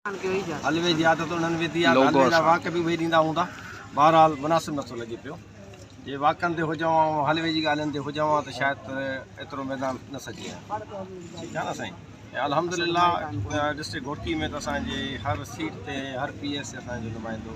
حلوي جي عادت انهن وڌي آهي ته حلوي جا واڪ به اهي ڏيندا هوندا. بهرحال مناسب نٿو لڳي پيو. جي واڪن تي هجون ها ۽ حلوي جي ڳالهين تي هجون ها ته شايد ايترو ميدان نه سجي ها. ٺيڪ آهي نه سائين. ۽ الحمدلله ڊسٽرڪٽ گهوٽڪي ۾ ته اسان جي هر سيٽ تي هر پي اي سي اسان جو نمائندو.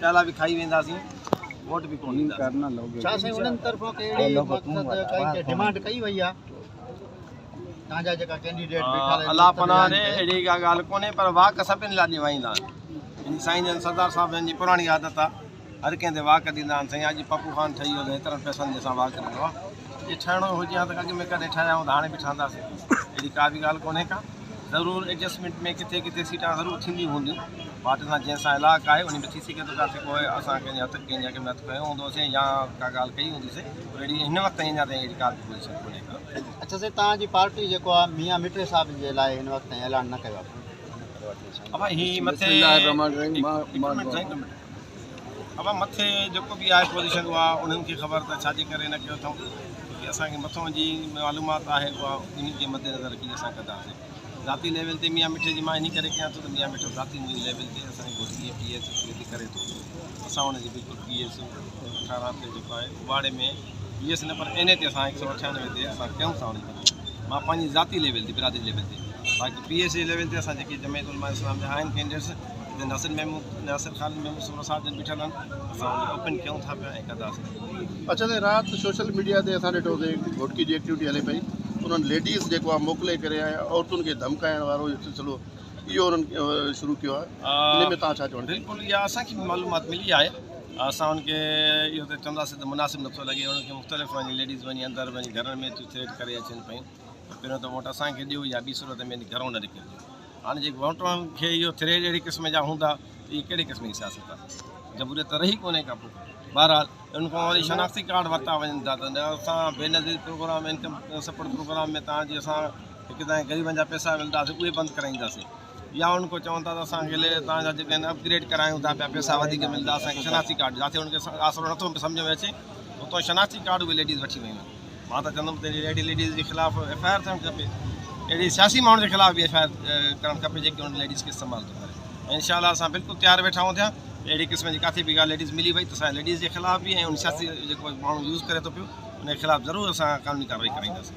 پيالا به کائي وينداسين ووٽ به ڪونه ڏينداسين ڇا سائين انهن طرفان ڪي اهڙي مقصد ڪائي ڊيمانڊ ڪئي وئي آ تان جا جيڪا ڪينڊيڊيٽ بيٺا رهن الله پنا ڏي اهڙي ڪا ڳالهه ڪونهي پر واڪ سڀني لاء ڏيوائيندا آهن سائين جن سردار صاحب جن جي پراڻي عادت آ هر ڪنهن تي واڪ ڏيندا آهن سائين اڄ پپو خان ٺهي ويو ايترن پئسن جي سان واڪ ڏنو آ جي ٺهڻو ئي هجي ها ته اڳ ۾ ڪڏهن ٺهيا هوندا هاڻي به ٺهنداسين اهڙي ڪا به ڳالهه ڪونهي ڪا ضرور ايڊجسٽمينٽ ۾ ڪٿي ڪٿي سيٽان ضرور ٿينديون هونديون پارٽي سان جنهن سان الاقه آهي انهي ۾ ٿي سگهي ٿو ڪا سي ڪو اسان ڪنهن جي هٿ ڪنهن جي اڳ ۾ هٿ کنيو هوندو سي يا ڪا ڳالهه ڪئي هوندي سي پر اهڙي هن وقت تائين اڃا تائين اهڙي ڪا به پوزيشن ڪونهي ڪا اڇا سائين توهان جي پارٽي جيڪو آهي ميان مٺڙي صاحب جي لاء هن وقت تائين اعلان نه ڪيو آهي ابا هي مٿي اوهان مٿي جيڪو به آهي پوزيشن اها انهن کي خبر ته ڇا جي ڪري نه ڪيو اٿئون ڇو ڪي اسان کي مٿئون جي معلومات آهي اها انهن کي مد نظر رکي اسان ڪنداسين ذاتي ليول تي ميان مٺي جي مان انهي ڪري ڪيان ٿو ته ميان مٺو ذاتي منهنجي ليول تي اسان جي گهوٽ جي پي ايس سي تي ڪري ٿو اسان ان جي بلڪل پي ايس اٺارهن تي جيڪو آهي اٻاڙي ۾ پي ايس نه پر اين اي تي اسان هڪ سؤ اٺيانوي تي اسان ڪيون ٿا ان جي مان پنهنجي ذاتي ليول تي برادري ليول تي باقي پي ايس سي ليول تي اسان جيڪي جمعيت علماء اسلام جا آهن ڪينڊيڊيٽس ناصر ميمون ناصر خان ميمون سورو صاحب جن بيٺل آهن اسان ان اوپن ڪيون ٿا پيا ۽ ڪنداسين اچا سائين رات سوشل ميڊيا تي اسان ڏٺو سي گهوٽڪي جي ايڪٽيوٽي هلي پئي انهن ليڊيز جيڪو آهي موڪلي ڪري آيا عورتن کي ڌمڪائڻ وارو جو سلسلو اهو انهن شروع ڪيو آهي ان ۾ تان ڇا چوڻ بالڪل اها اسان کي معلومات ملي آهي اسان ان کي اهو ته چونداسين ته مناسب نٿو لڳي انهن کي مختلف وڃي ليڊيز وڃي اندر وڃي گهرن ۾ ٿريٽ ڪري اچن پيون پهريون ته ووٽ اسان کي ڏيو يا ٻي صورت ۾ گهرون نه نڪرجو هاڻي جي ووٽرن کي اهو ٿريڊ اهڙي قسم جا هوندا ته اهي ڪهڙي قسم جي سياست آهي جمهوريت ته رهي ڪونهي ڪا پوء بهرحال ان کان وري شناختي ڪارڊ ورتا وڃن ٿا ته اسان Benazir programme income support programme ۾ تان جي اسان هڪ ته غريبن جا پيسا ملنداسي اهي بند ڪرائينداسي يا ان کان چون ٿا ته اسان کي تان جا جيڪي اپ گريڊ ڪرايون ٿا پيا پيسا وڌيڪ ملندا اسان کي شناختي ڪارڊ جاٿي ان کي آسرو نٿو سمجھ ۾ اچي اتو شناختي ڪارڊ اهي ليڊيز وٺي ويون مان ته چوندم ته اهڙي ليڊيز جي خلاف ايف آء آر ٿيڻ کپي اهڙي سياسي ماڻهن جي خلاف به ايف آء آر ڪرڻ کپي جيڪي ان ليڊيز کي استعمال ٿو ڪري ۽ انشاء الله اسان بلڪل تيار ويٺا آهيون ٿيا اهڙي قسم جي ڪاٿي به ڳالهه ليڊيز ملي وئي ته اسان ليڊيز جي خلاف به ۽ ان سياسي جيڪو ماڻهو يوز ڪري ٿو پيو ان خلاف ضرور اسان قانوني ڪارروائي ڪرائينداسين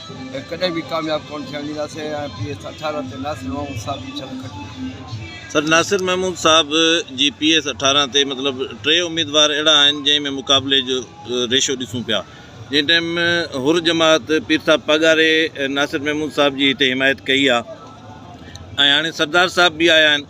۽ ڪڏهن به ڪامياب ڪونه ٿيڻ ڏينداسين ۽ پي ايس اٺارهن تي ناصر محمود صاحب جي ڇل کٽي. سر ناصر محمود صاحب جي پي ايس اٺارهن تي مطلب ٽي اميدوار اهڙا آهن جنهن ۾ مقابلي جو ريشو ڏسون پيا جنهن ٽائيم حر جماعت پير صاحب پاڳاري ناصر محمود صاحب جي هتي حمايت ڪئي آهي ۽ هاڻي سردار صاحب به آيا آهن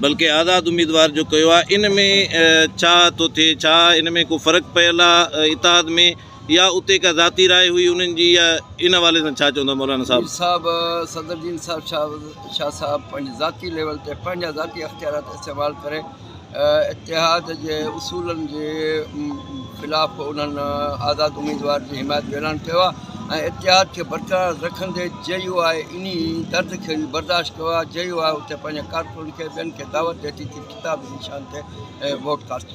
بلڪه آزاد اميدوار جو ڪيو آ ان ۾ ڇا ٿو ٿئي ڇا ان ۾ ڪو فرق پيل آ اتحاد ۾ يا اتي ڪا ذاتي راء هئي انهن جي يا ان حوالي سان ڇا چوندا مولانا صاحب. مير صاحب صدر جي انصاف شاهه صاحب پنهنجي ذاتي ليول تي پنهنجا ذاتي اختيارات استعمال ڪري اتحاد جي اصولن جي خلاف انهن آزاد اميدوار جي حمايت جو اعلان ڪيو آهي ۽ اتحاد کي برقرار رکندي جي يو آء انهي درد کي به برداشت ڪيو آهي، جي يو آء اتي پنهنجن ڪارڪنن کي ٻين کي دعوت ڏئي ٿي ته خطاب جي نشان تي ووٽ ڪاستو.